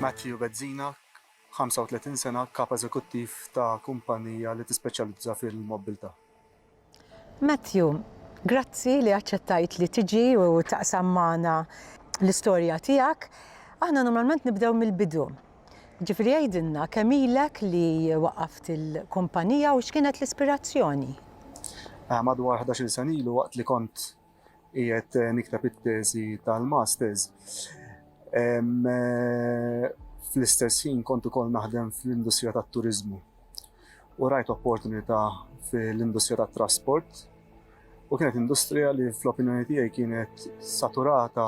Matthew Bezzina, 35 sena, Kap Eżekuttiv ta' kumpannija li tispeċjalizza fil-mobbiltà. Matthew, grazzi li aċċettajt li tiġi u taqsam magħna l-istorja tiegħek. Aħna normalment nibdew mill-bidu. Ġifieri għidilna kemm ilek li waqqaft il-kumpanija u x'kienet l-ispirazzjoni? Madwar ħdax-il sena ilu waqt li kont qiegħed nikteb it-teżi tal-Masters. Fl-istess ħin kont ukoll naħdem fl-industrija tat-turiżmu u rajt opportunità fl-industrija tat-trasport u kienet industrija li fl-opinjoni tiegħi kienet saturata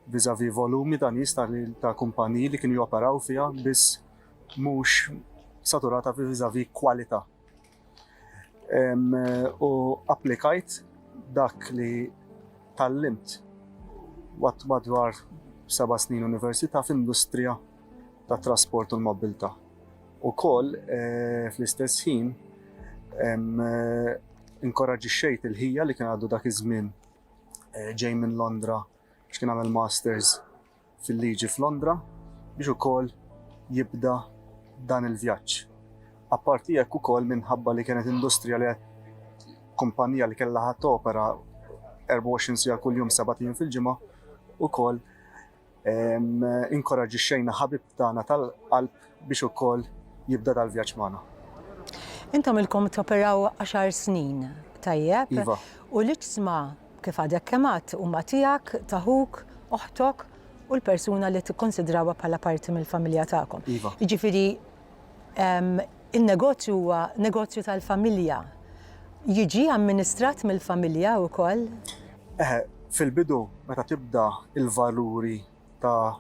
vis-à-vis volumi ta' nies ta' kumpaniji li kienu joperaw fiha biss mhux saturata vis-à-vis kwalità. U applikajt dak li tgħallimt waqt madwar seba' snin università f'industrija tat-trasport u l-mobbiltà. Ukoll fl-istess ħin inkoraġġixxejt il-ħija li kien għadu dak iż-żmien ġej minn Londra, biex kien għamel Masters fil-Liġi f'Londra biex ukoll jibda dan il-vjaġġ. Apparti hekk ukoll minħabba li kienet industrija li kumpanija li kellha ħadd opera 24 sija kuljum sabatin fil-ġimgħa ukoll inkoraġixxejna ħabib tagħna tal-qalb biex ukoll jibda dal-vjaġġ magħna. Intom ilkom toperaw għaxar snin, tajjeb? Iva. U l-iġsma, kif għadek kemm għedt, huma tiegħek, ta' ħuk, oħtok u l-persuna li tikkunsidrawha bħala parti mill-familja tagħkom. Iva. Jiġifieri in-negozju huwa negozju tal-familja. Jiġi amministrat mill-familja wkoll? Eħe, fil-bidu meta tibda l-valuri ta'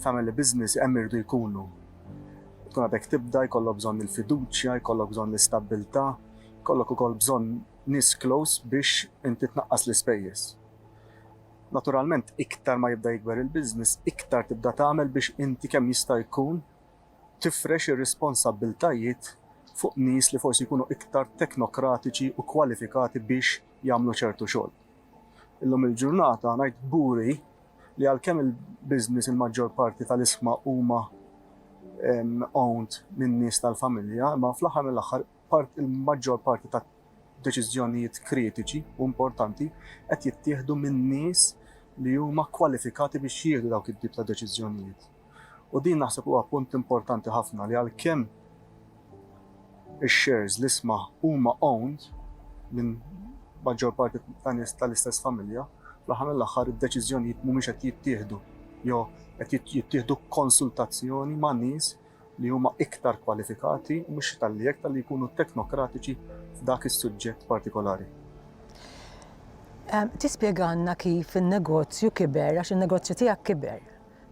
family business hemm iridu jkunu. Tkun għadek tibda, jkollok bżonn il-fiduċja, jkollok bżonn l-istabbiltà, jkollok ukoll bżonn nies close biex inti tnaqqas l-ispejjeż. Naturalment iktar ma jibda jikber il-business, iktar tibda tagħmel biex inti kemm jista' jkun tifrex ir-responsabbiltajiet fuq nies li forsi jkunu iktar teknokratiċi u kwalifikati biex jagħmlu ċertu xogħol. Illum il-ġurnata ngħid kburi li għalkemm il-business il-maġġor parti tal-isma huma owned minn nies tal-familja, imma fl-aħħar mill-aħħar il-maġġor parti ta' deċiżjonijiet kritiċi u importanti qed jittieħdu minn nies li huma kwalifikati biex jieħdu dawk it-tip ta' deċiżjonijiet. U din naħseb huwa punt importanti ħafna li għalkemm ix-shares, l-isma, huma owned minn maġġor parti ta' nies tal-istess familja, fl-aħħar mill-aħħar id-deċiżjonijiet mhumiex qed jittieħdu jew qed jittieħdu b'konsultazzjoni ma' nies li huma iktar kwalifikati u mhux talli hekk talli jkunu teknokratiċi f'dak is-suġġett partikolari. Tispjegalna kif in-negozju kiber għax in-negozju tiegħek kiber.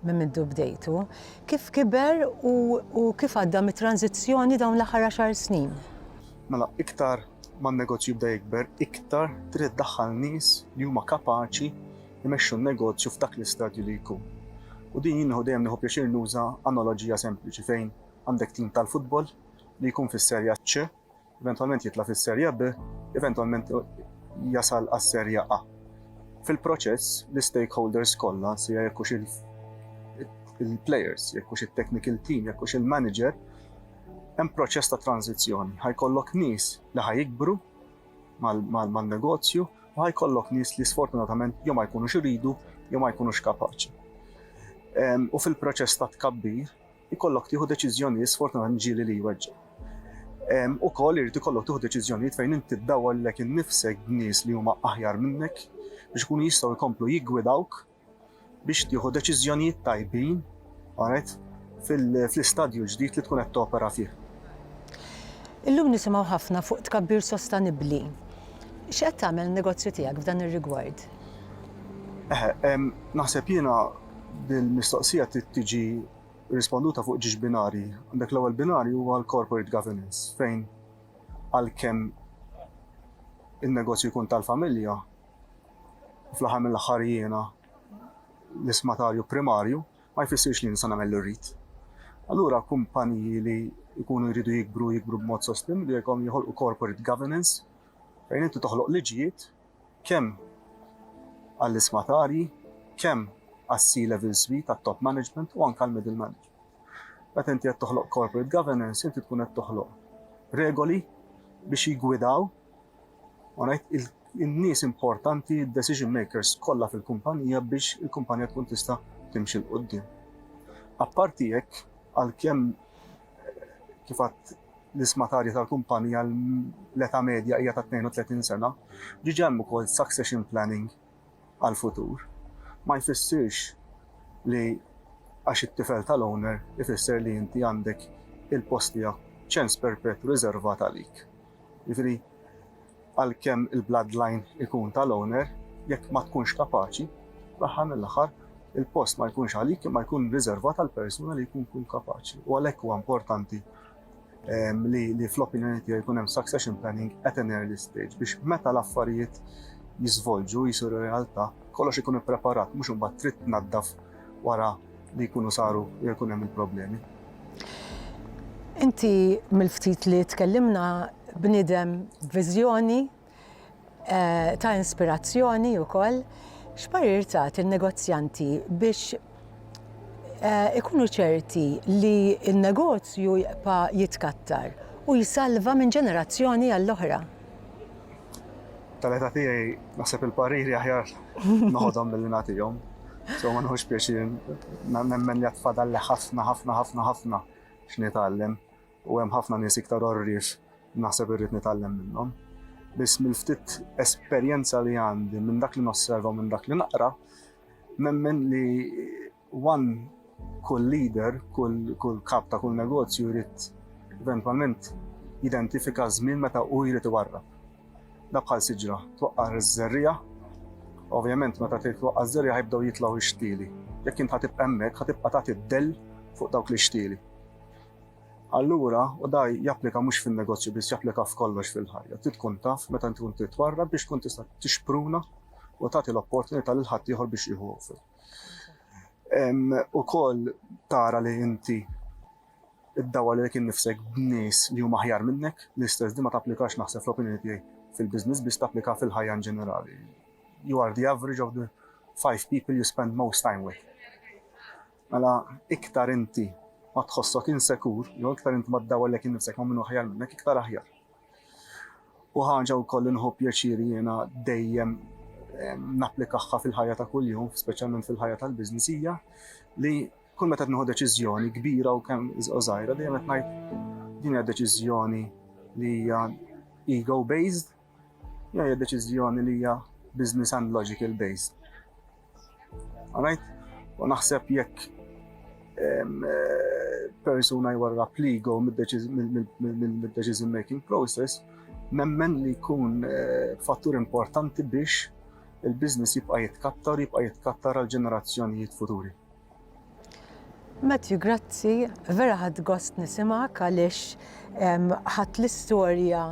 minn mindu bdejtu, kif kiber u u kif għadda mit-tranżizzjoni dawn l-aħħar għaxar snin? Mela, iktar ma n-negozju bda jikber, iktar trid iddaħħal nies li huma kapaċi jmexxu n-negozju f'dak l-istadju li jkun. U din jien nieħu dejjem nieħu pjaċir nuża analoġija sempliċi fejn għandek tim tal-futbol li jkun fis-Serja C Eventwalment jitla' fis-Serja B, eventwalment jasal għas-Serja A. Fil-proċess, l-istakeholders kollha, sija jekk hux il-players, jekk hux it-technical team, jekk hux il-manager, hemm proċess ta' tranżizzjoni. Ħajkollok nies li ħajikbru mal-negozju u ħajkollok nies li sfortunatament jew ma jkunux iridu jew ma jkunux kapaċi. U fil-proċess ta' tkabbir, ikollok tieħu deċiżjonijiet sfortunatament ġieli li jweġġgħu. Ukoll irid ikollok tieħu deċiżjonijiet fejn inti ddawwar lilek innifsek b'nies li huma aħjar minnek biex ikunu jistgħu jkomplu jiggwidawk biex tieħu deċiżjonijiet tajbin għanet fl-istadju ġdid li tkun qed topera fih. Illum nisimgħu ħafna fuq tkabbir sostenibbli. X'qed tagħmel negozju tiegħek f'dan ir-rigward? Eħe, naħseb jiena Dil-mistoqsija trid tiġi risponduta fuq ġiex binarji. Għandek l-ewwel binarju huwa l-corporate governance fejn għalkemm in-negozju jkun tal-familja, fl-aħħar mill-aħħar jiena l-ismatarju primarju ma jfissirx li nista' nagħmel li rrid. Allura kumpaniji li jkunu jridu jikbru, jikbru b'mod sostenibbli jkollhom joħolqu corporate governance fejn inti toħloq liġijiet kemm għall-ismatarji, kemm għas-C-level suite, għat-top management u anke għall-middle management. Meta inti qed toħloq corporate governance, inti tkun qed toħloq regoli biex jigwidaw in-nies importanti, decision makers kollha fil-kumpanija biex il-kumpanija tkun tista' timxi l-qoddim. Apparti hekk, għalkemm kif l-isma tarja tal-kumpanija l-età medja hija ta' 32 sena, diġà hemm ukoll succession planning għall-futur. Ma jfissirx li għax it-tifel tal-owner ifisser li inti għandek il-post tiegħek ċens perpetwu riżervat għalik. Jiġifieri, għalkemm il-bloodline ikun tal-owner, jekk ma tkunx kapaċi, fl-aħħar mill-aħħar, il-post ma jkunx għalik imma jkun riżervat għal persuna li jkun jkun kapaċi. U għalhekk huwa importanti ehm, li, li fl-opinjoni tiegħi jkun hemm succession planning at an early stage biex meta l-affarijiet jiżvolġu jisiru realtà, kollox ikun ippreparat, mhux imbagħad trid tnaddaf wara li jkunu saru jekk ikun hemm il-problemi. Inti mill-ftit li tkellimna bniedem viżjoni eh, ta' inspirazzjoni wkoll, x'parir tagħti in-negozjanti biex eh, ikunu ċerti li n-negozju jibqa' jitkattar u jsalva minn ġenerazzjoni għall-oħra? tal-età tiegħi naħseb il-pariri aħjar noħodhom billi nagħtihom. So ma nħux pjaċir nemmen li għatfadal li ħafna ħafna ħafna ħafna x'nitgħallem u hemm ħafna nies iktar orrif naħseb irrid nitgħallem minnhom. Biss mill-ftit esperjenza li għandi minn dak li nosserva minn dak li naqra, nemmen li One kull leader, kull kap ta' kull negozju jrid eventwalment jidentifika ż-żmien meta hu jrid iwarrab. Dak bħal siġra, twaqqar iż-żerriegħa, ovvjament meta trid twaqqar iż-żerriegħa jibdew jitlgħu x-xtieli. Jekk int ħa tibqa' hemmhekk ħa tibqa' tagħti d-dell fuq dawk l-ixtieli. Allura, u da japplika mhux fin-negozju biss japplika f'kollox fil-ħajja, trid tkun taf meta tkun trid twarrab biex tkun tista' tixpruna u tagħti l-opportunità lil ħaddieħor biex jieħu offer. U kol tara li inti id-dawa li kien nifsek b'nis li huma ħjar minnek, l-istess di ma taplikax naħseb fl-opinjoni tiegħi fil-biznis biss taplika fil-ħajja in ġenerali. You are the average of the five people you spend most time with. Mela iktar inti ma tħossok insekur, jew iktar inti ma d-dawa li kien nifsek ma minnu ħjar minnek, iktar aħjar. u ħaġa wkoll li nħu pjaċir jiena dejjem napplikahha fil-ħajja ta' kuljum, speċjalment fil-ħajja tal-business hija li kull meta tnieħu deċiżjoni kbira u kemm żgħira dejjem qed ngħid din hija deċiżjoni li hija ego based, hija deċiżjoni li hija business and logical based. Għanajt, u naħseb jekk ehm, eh, persuna jwarra pligo mid-decision making process, nemmen li jkun eh, fattur importanti biex il-biznis jibqa' jitkattar, jibqa' jitkattar għal ġenerazzjonijiet futuri. Matthew, grazzi, vera ħadd gost nisimgħek għaliex ħadd l-istorja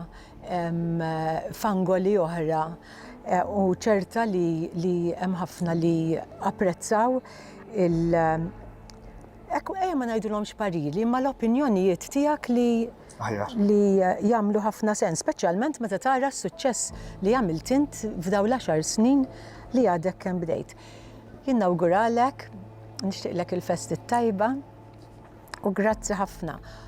f'angoli oħra e, u ċerta li, li hemm ħafna li apprezzaw il Ekku, ejja ma ngħidulhomx parili, ma l-opinjonijiet tiegħek li li jagħmlu ħafna sens, speċjalment meta tara s-suċċess li għamilt int f'daw l-10 snin li għadek kemm bdejt. Jien nawguralek, nixtieqlek il-festi t-tajba u grazzi ħafna